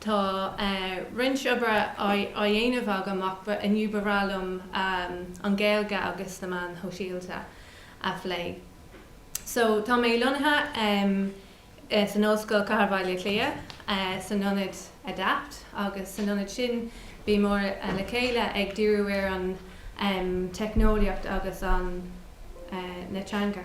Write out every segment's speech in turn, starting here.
Tá roinnt oibre á dhéanamh agam ach inniu ba bhreá liom an Ghaeilge agus na meáin shóisialta a phlé. So, tá mé lonnaithe san Ollscoil Chathair Bhaile Átha Cliath, san ionad Adapt agus san ionad sin bímid le chéile ag díriú ar an teicneolaíocht agus an teanga.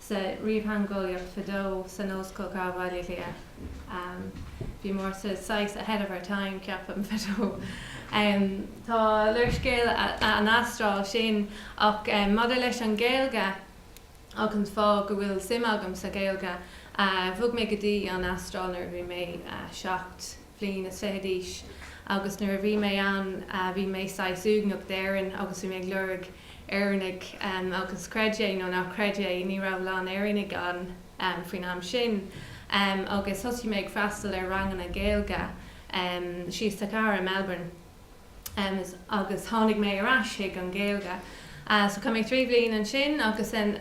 Sa ríomhtheangeolaíocht fadó, san Ollscoil Chathair Bhaile Átha Cliath, bhíomar saghas ahead of our time, ceapaim, fadó. Tá léarscáil an Astráil sin. Ach maidir leis an Ghaeilge agus an fáth go bhfuil suim agam sa Ghaeilge, bhog mé go dtí an Astráil nuair a bhí mé seacht. mbliana is fiche d'aois agus nuair a bhí mé ann bhí mé saghas uaigneach d'Éirinn agus bhí mé ag lorg Éireannaigh agus creid é nó ná creid é ní raibh a lán Éireannaigh ann faoin am sin agus thosaigh mé ag freastal ar ranganna Gaeilge thíos sa chathair i Melbourne agus tháinig mé ar ais chuig an Ghaeilge so chaith mé trí bhliain ansin agus then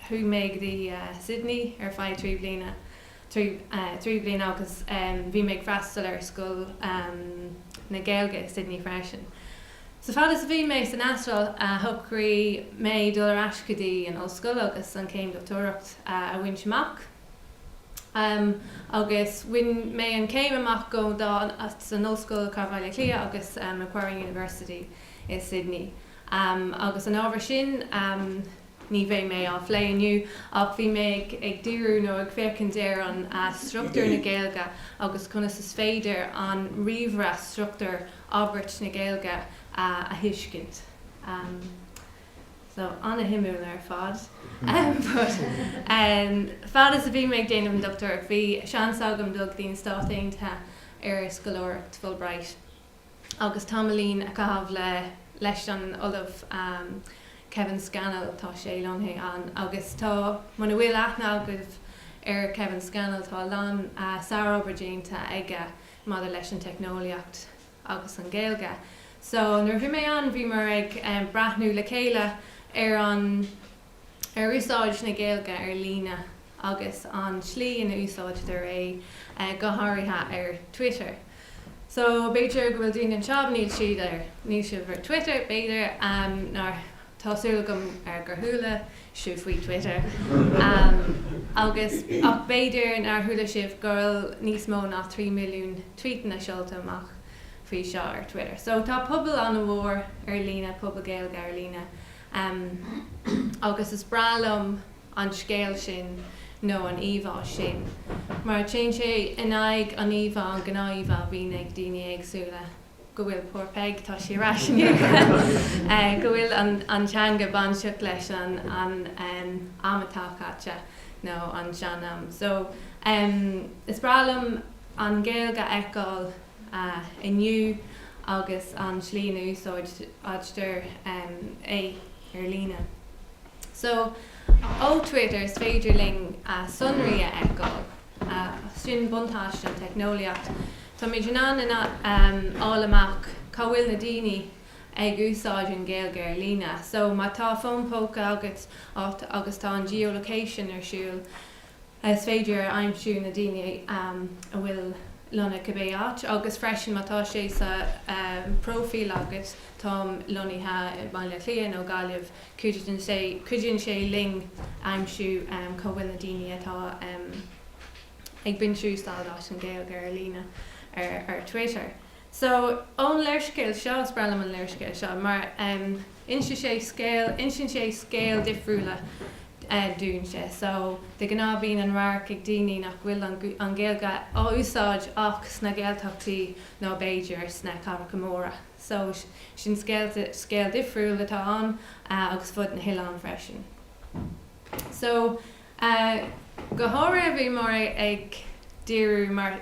chuaigh mé go dtí Sydney ar feadh trí bhliana trí bliana agus bhí mé ag freastal ar Scoil na Gaeilge i Sydney freisin. So fad is a bhí mé san Astráil, shocraigh mé dul ar ais go dtí an ollscoil agus an céim dochtúireacht a bhaint amach. Agus bhain mé an céim amach go dá san Ollscoil Chathair Bhaile Átha Cliath agus Macquarie University i Sydney. Agus an ábhar sin Ní bheidh mé á phlé inniu ach bhí mé ag díriú nó ag féachaint ar an struchtúr na Gaeilge agus conas is féidir an ríomhaire struchtúr abairt na Gaeilge a thuiscint. So, an-shuimiúil ar fad. But, fad is a bhí mé ag déanamh an dochtúireacht bhí seans agam dul go dtí na Stáit Aontaithe ar scoláireacht Fulbright. agus tamaillín a chaitheamh le, leis an Ollamh Kevin Scannell, tá sé lonnaithe ann, agus tá, muna bhfuil aithne agaibh ar Kevin Scannell, tá a lán sárobair déanta aige maidir leis an teicneolaíocht agus an Ghaeilge. So, nuair a bhí mé ann, bhíomar ag breathnú le chéile ar an. ar úsáid na Gaeilge ar líne agus an tslí ina úsáidtear é go háirithe ar Twitter. So b'fhéidir go bhfuil daoine anseo, níl siad ar, níl sibh ar Twitter b'fhéidir, nár, tá súil agam gur chuala sibh faoi Twitter agus, ach b'fhéidir nár chuala sibh go bhfuil níos mó ná 3 milliún tweetanna seolta amach faoi seo ar Twitter. So tá pobal an-mhór ar líne, pobal Gaeilge ar líne. Em, agus is breá liom an scéal sin nó an íomhá sin mar téann sé in aghaidh an íomhá, an gnáth-íomhá a bhíonn ag daoine éagsúla go bhfuil, poor Peig, tá sé ar ais inniu, eh, go bhfuil an, an teanga bainteach leis an, an, em, am atá caite nó an sean-am. So, em, is breá liom an Ghaeilge a fheiceáil. inniu agus an tslí ina úsáidtear é ar líne. So, ó Twitter is féidir linn sonraí a fheiceáil. Sin buntáiste an teicneolaíocht. Táimid in ann a fháil amach cá bhfuil na daoine ag úsáid an Ghaeilge ar líne. So, má tá fón póca agat agus tá an geolocation ar siúl, Is féidir aimsiú na daoine a bhfuil lonnaithe cibé áit agus freisin má tá sé sa próifíl agat, táim lonnaithe i mBaile Átha Cliath nó Gaillimh, cuidíonn sé linn aimsiú cá bhfuil na daoine atá ag baint úsáid as an Ghaeilge ar líne ar Twitter. So, ón léarscéal seo, is breá liom an léarscéal seo, mar inse sé scéal, insíonn sé scéal difriúla dúinn sé. So, de ghnáth bíonn an radharc ag daoine nach bhfuil an Ghaeilge á úsáid ach sna Gaeltachtaí nó b'fhéidir sna cathracha móra. So, sin scéal difriúil atá ann agus fud na hoileáin freisin. So, go háirithe bhí mé ag díriú mar.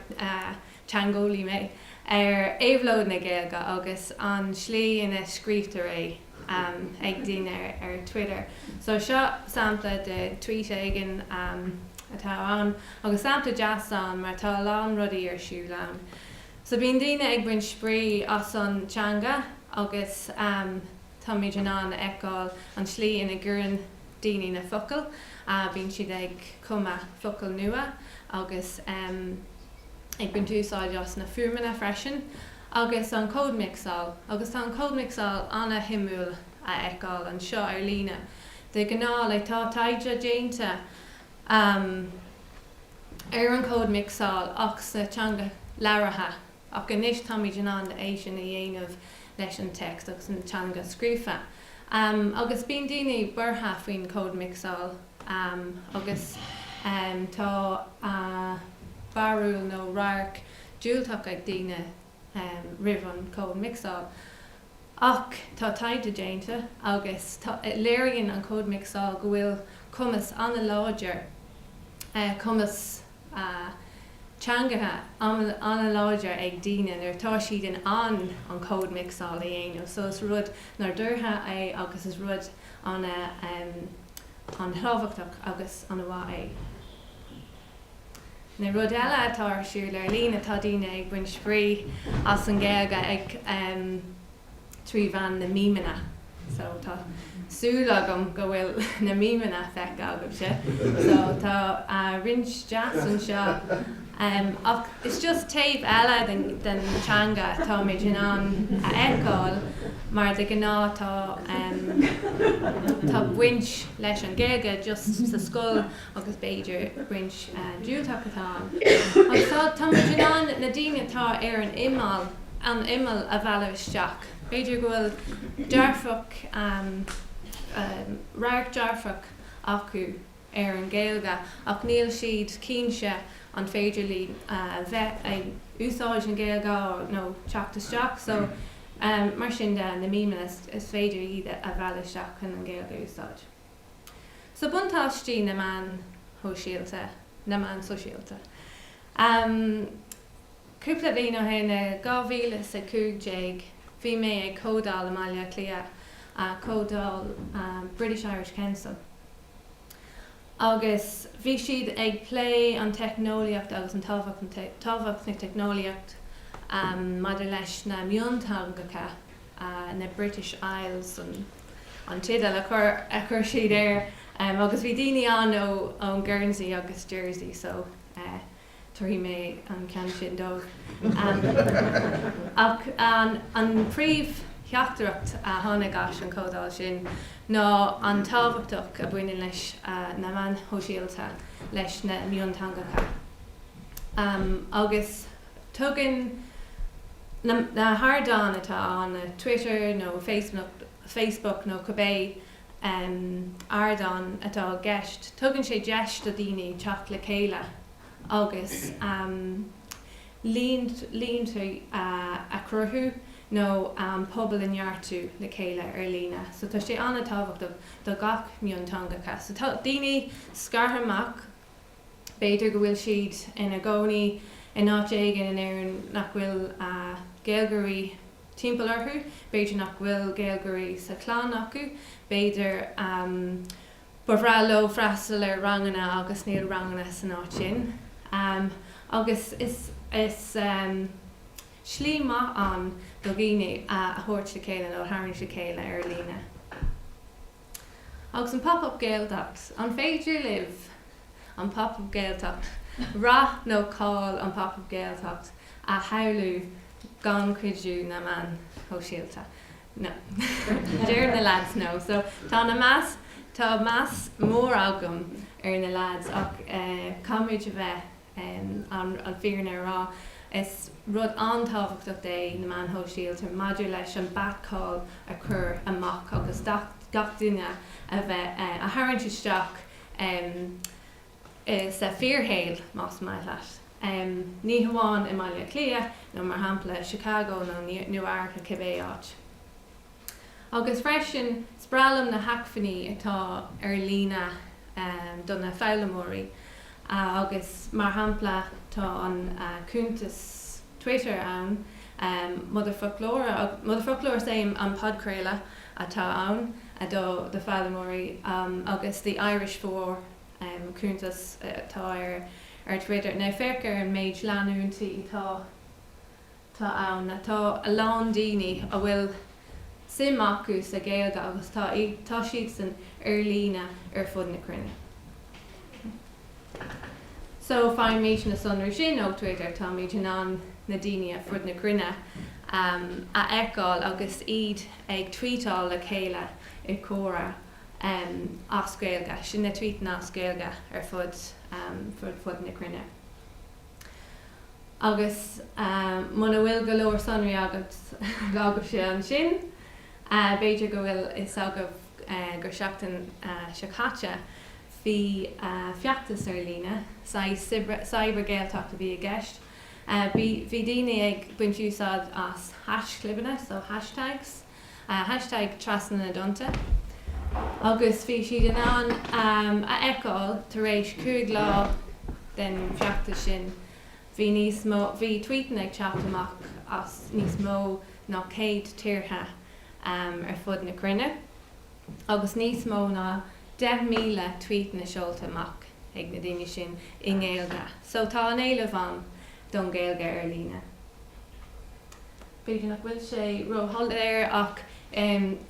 teangeolaí mé, ar éabhlóid na Gaeilge agus an tslí ina scríobhtar é ag daoine ar Twitter. So seo sampla de tweet éigin atá ann agus sampla deas ann mar tá a lán rudaí ar siúl ann. So bíonn daoine ag baint spraoi as an teanga agus táimid in ann a fheiceáil an tslí ina gcuireann daoine na focail, bíonn siad ag cumadh focal nua agus. ag baint úsáid as na fuaimeanna freisin agus an códmixáil, agus tá an códmixáil ana-shuimiúil a fheiceáil anseo ar líne de ghnáth le tá taighde déanta ar an códmixáil ach sa teanga labhartha ach anois táimid in ann é sin a dhéanamh leis an text agus an teanga scríofa agus bíonn daoine buartha faoin códmixáil am agus tá barúil nó radharc diúltach ag daoine roimh an cód micseáil. Ach tá taighde déanta agus léiríonn an cód micseáil go bhfuil cumas an-láidir, cumas teangacha an-láidir ag daoine nuair atá siad in ann an cód micseáil a dhéanamh. So is rud nádúrtha é agus is rud an-tábhachtach agus an-mhaith é. Now rud eile atá ar siúl ar líne, tá daoine ag baint spraoi as an Gaeilge trí mheán na mímeanna. So tá súil agam go bhfuil na mímeanna feicthe agaibhse. So tá roinnt deas anseo. Ach is just taobh eile den teanga atáimid in ann a fheiceáil mar de ghnáth tá baint leis an Gaeilge just sa scoil agus b'fhéidir baint diúltach atá agus táimid in ann na daoine atá ar an imeall a mhealladh isteach. B'fhéidir go bhfuil dearfach, radharc dearfach acu. ar an Gaeilge ach níl siad cinnte an féidir leo bheith ag úsáid an Gaeilge nó teacht isteach so mar sin de na memes is féidir iad a mhealladh isteach chun an Gaeilge a úsáid. So buntáistí na meán shóisialta, na meán sóisialta. Cúpla bhliain ó shin i 2015 bhí mé ag comhdáil i mBaile Átha Cliath, comhdáil British Irish Council. agus bhí siad ag plé an teicneolaíocht agus an tábhacht na teicneolaíocht maidir leis na mionteangacha, na British Isles an teideal a chuir siad air, agus bhí daoine ann ó ón Guernsey agus Jersey so. tabharfaidh mé an ceann sin dóibh. Ach an príomhtheachtaireacht a tháinig as an comhdháil sin ná an tábhachtach a baineann leis na meáin shóisialta leis na mionteangacha. Agus tugann na hardáin atá ann, Twitter nó Facebook nó cibé, ardán atá i gceist. Tugann sé deis do dhaoine teacht le chéile agus líonta a chruthú nó pobal a neartú le chéile ar líne. So tá sé an-tábhachtach do gach mionteangacha. So tá daoine scartha amach, b'fhéidir go bhfuil siad ina gcónaí in áit éigin in Éirinn nach bhfuil Gaeilgeoirí timpeall orthu, b'fhéidir nach bhfuil Gaeilgeoirí sa chlann acu, b'fhéidir ba bhreá leo freastal ar ranganna agus níl ranganna san áit sin, agus is slí maith ann daoine a thabhairt le chéile nó a tharraingt le chéile ar líne. Agus an Pop-Up Gaeltacht? An féidir libh an Pop-Up Gaeltacht, rath nó cáil an Pop-Up Gaeltacht a shamhlú gan cuidiú na meán shóisialta? No. Deir na leaids no. So, tá an-mheas, tá meas mór agam ar na leaids ach eh, caithfimid a bheith. An fírinne a rá, is rud an-tábhachtach é na meáin shóisialta maidir leis an beat cáil a chur amach agus gach duine a bheith a tharraingt isteach sa fíorshaol, más maith leat. Ní hamháin i mBaile Átha Cliath nó, mar shampla, Chicago nó New York nó cibé áit. Agus freisin, spreagann na hacmhainní atá ar líne do na foghlaimeoirí agus, mar shampla, tá an cuntas Twitter ann, Motherfoclóir, Motherfoclóir is é an podchraoladh atá ann do do foghlaimeoirí, agus The Irish For, cuntas atá ar Twitter. Now, féach ar an méid leantóirí atá atá ann. Tá a lán daoine a bhfuil suim acu sa Ghaeilge agus tá tá siadsan ar líne ar fud na cruinne. So faighimid na sonraí sin ó Twitter, táimid in ann na daoine ar fud na cruinne a fheiceáil agus iad ag tweetáil le chéile i gcomhrá as Gaeilge, sin na tweetanna as Gaeilge ar fud fud na cruinne. Agus muna bhfuil go leor sonraí agat agaibhse ansin, b'fhéidir go bhfuil fhios agaibh gur seachtain seo caite bhí feachtas ar líne, Cyber Gaeltacht a bhí i gceist. Bhí daoine ag baint úsáid as haischlibeanna, so hashtags, Hashtag trasna na dtonnta. Agus bhí siad in ann a fheiceáil tar éis cúig lá den feachtas sin, bhí níos mó, bhí tvuíteanna ag teacht amach as níos mó ná céad tíortha ar fud na cruinne agus níos mó ná deich míle tvuíteanna seolta amach ag na daoine sin i nGaeilge. So tá an éileamh ann don Ghaeilge ar líne. B'fhéidir nach bhfuil sé ró-shoiléir ach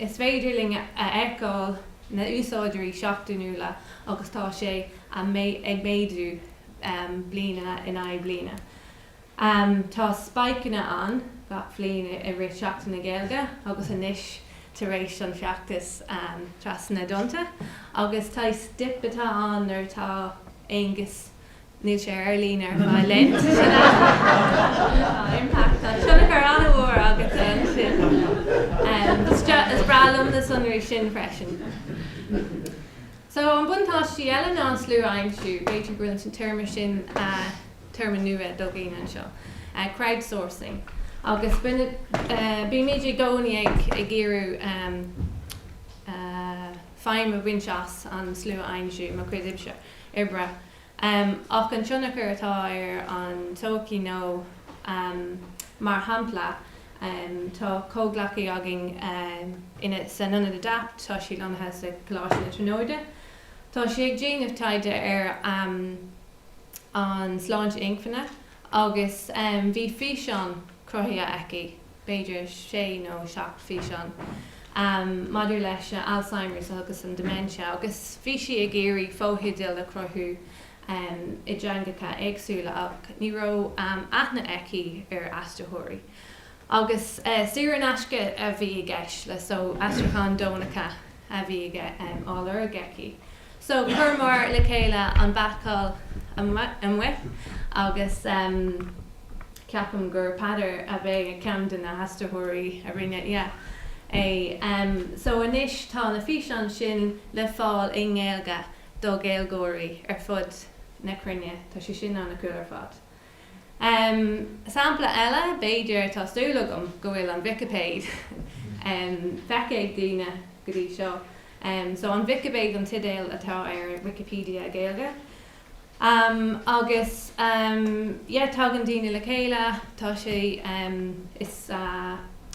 is féidir linn a fheiceáil na úsáideoirí seachtainiúla agus tá sé ag méadú bliana in aghaidh bliana. Tá spaiceanna ann gach bliain i rith Seachtain na Gaeilge agus anois tar éis an feachtas trasna na dtonnta agus tá dip atá ann nuair atá Aonghus Níl sé ar líne ar fáil. Sin é. Tá impact, tá tionchar an-mhór agatsa ansin. Is breá liom na sonraí sin freisin. So, an buntáistí eile ná an slua a aimsiú, b'fhéidir go bhfuil an téarma sin téarma nua do dhaoine anseo. Crowdsourcing. Agus bímid i gcónaí ag iarradh feidhm a bhaint as an slua a aimsiú, mo chuid oibse. oibre, ach an tionchar atá ar an tsochaí nó mar shampla tá comhghleacaí againn insan ionad Adapt, tá sí lonnaithe sa Choláiste na Tríonóide, tá sí ag déanamh taighde ar an sláinte inchinne agus bhí físeán cruthaithe aici. b'fhéidir sé nó seacht físeán, maidir leis an Alzheimers agus an dementia agus bhí sí ag iarraidh fótheideal a chruthú i dteangacha éagsúla ach ní raibh aithne aici ar aistritheoirí. Agus saor in aisce a bhí i gceist leis. So, aistriúcháin deonacha. a bhí á lorg aici. So, chuireamar le chéile an beiceáil amuigh agus ceapaim gur Peadar ab ea ceann de na haistritheoirí a rinne é. So, anois tá na físeáin sin le fáil i nGaeilge do Ghaeilgeoirí ar fud na cruinne, tá sé sin an-cool ar fad. Sampla eile, b'fhéidir, tá súil agam go bhfuil an Vicipéid feicthe ag daoine go dtí seo. So An Vicipéid an teideal atá ar Wikipedia Gaeilge. Agus yeah tagann daoine le chéile, tá sé, is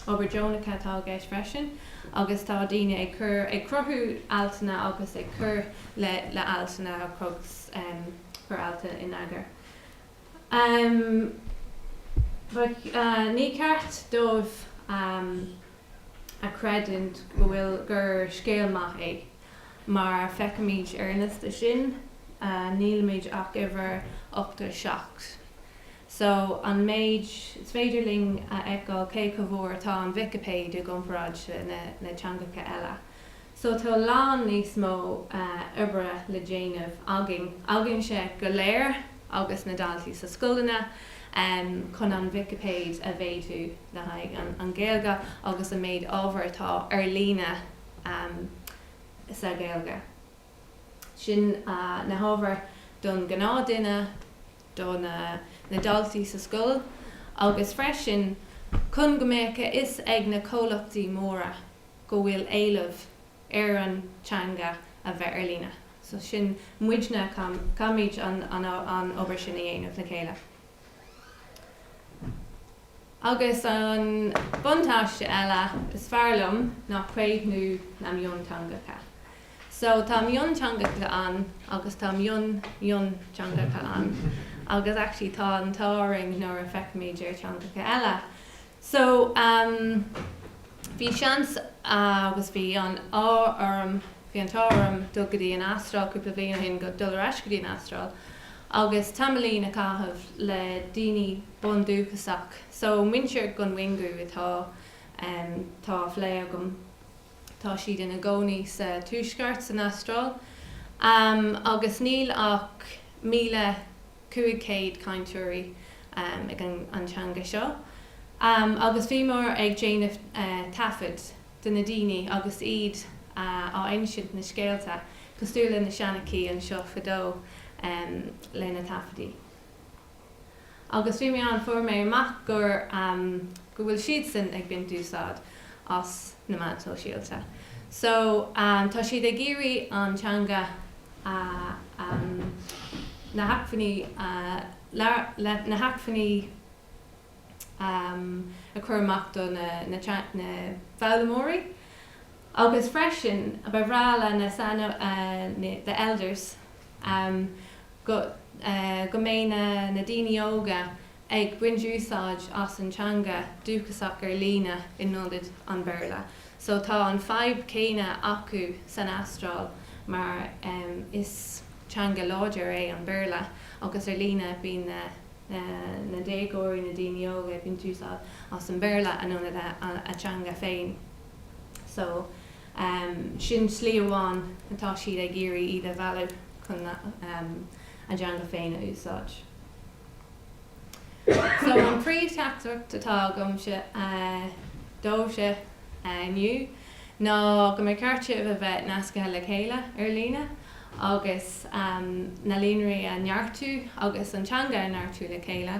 obair deonacha atá i gceist freisin agus tá daoine ag cur, ag cruthú altanna agus ag cur le altanna agus cur altanna in eagar. Bheadh, ní ceart daoibh a chreidiúint go bhfuil, gur scéal maith é. Mar feicimid ar an liosta sin, nílimid ach uimhir 87. So, an méid is féidir linn a fheiceáil cé chomh mór atá an Vicipéid i gcomparáid na teangacha eile. So tá a lán níos mó oibre le déanamh againn. Againne go léir agus na daltaí sa scoileanna chun an Vicipéid a mhéadú le haghaidh an Ghaeilge agus an méid ábhar atá ar líne sa Ghaeilge. Sin na hábhair don ghnáthduine, do na daltaí sa scoil agus freisin chun go mbeadh a fhios ag na comhlachtaí móra go bhfuil éileamh ar an teanga a bheith ar líne. So sin muidne, caithfimid an obair sin a dhéanamh le chéile. Agus an buntáiste eile is fearr liom ná craobhú na mionteangacha. So tá mionteangacha ann agus tá mion-mhionteangacha ann. Agus actually tá an t-ádh orainn nuair a fheicimid ar theangacha eile. So, bhí seans agus bhí an t-ádh orm, bhí an t-ádh orm dul go dtí an Astráil cúpla bliain ó shin, go, dul ar ais go dtí an Astráil agus tamaillín a chaitheamh le daoine bundúchasach, so muintir Kunwinjku atá á phlé agam. Tá siad ina gcónaí sa Tuaisceart, san Astráil, agus níl ach míle cúig céad cainteoirí ag an teanga seo. Agus bhíomar ag déanamh taifead de na daoine agus iad ag insint na scéalta, cosúil le na seanchaithe anseo fadó lena taifidí. Agus bhí mé ann, fuair mé amach gur, go bhfuil siadsan ag baint úsáid as na meáin shóisialta. So, tá siad ag iarraidh an teanga, na hacmhainní a chur amach do na foghlaimeoirí. Agus freisin, ba bhreá le na, the elders, amh go mbeidh na daoine óga ag baint úsáid as an teanga dúchasach ar líne in ionad an Bhéarla so tá an fadhb céanna acu san Astráil mar is teanga láidir é an Béarla agus ar líne bíonn na déagóirí, na daoine óga ag baint úsáid as an Bhéarla in ionad a dteanga féin so. Sin slí amháin atá siad ag iarraidh iad a mhealladh chun a dteanga féin a úsáid. So an príomhtheachtaireacht atá agamsa daoibhse inniu ná go mba cheart sibh a bheith nascaithe le chéile ar líne agus na líonraí a neartú agus an teanga a neartú le chéile.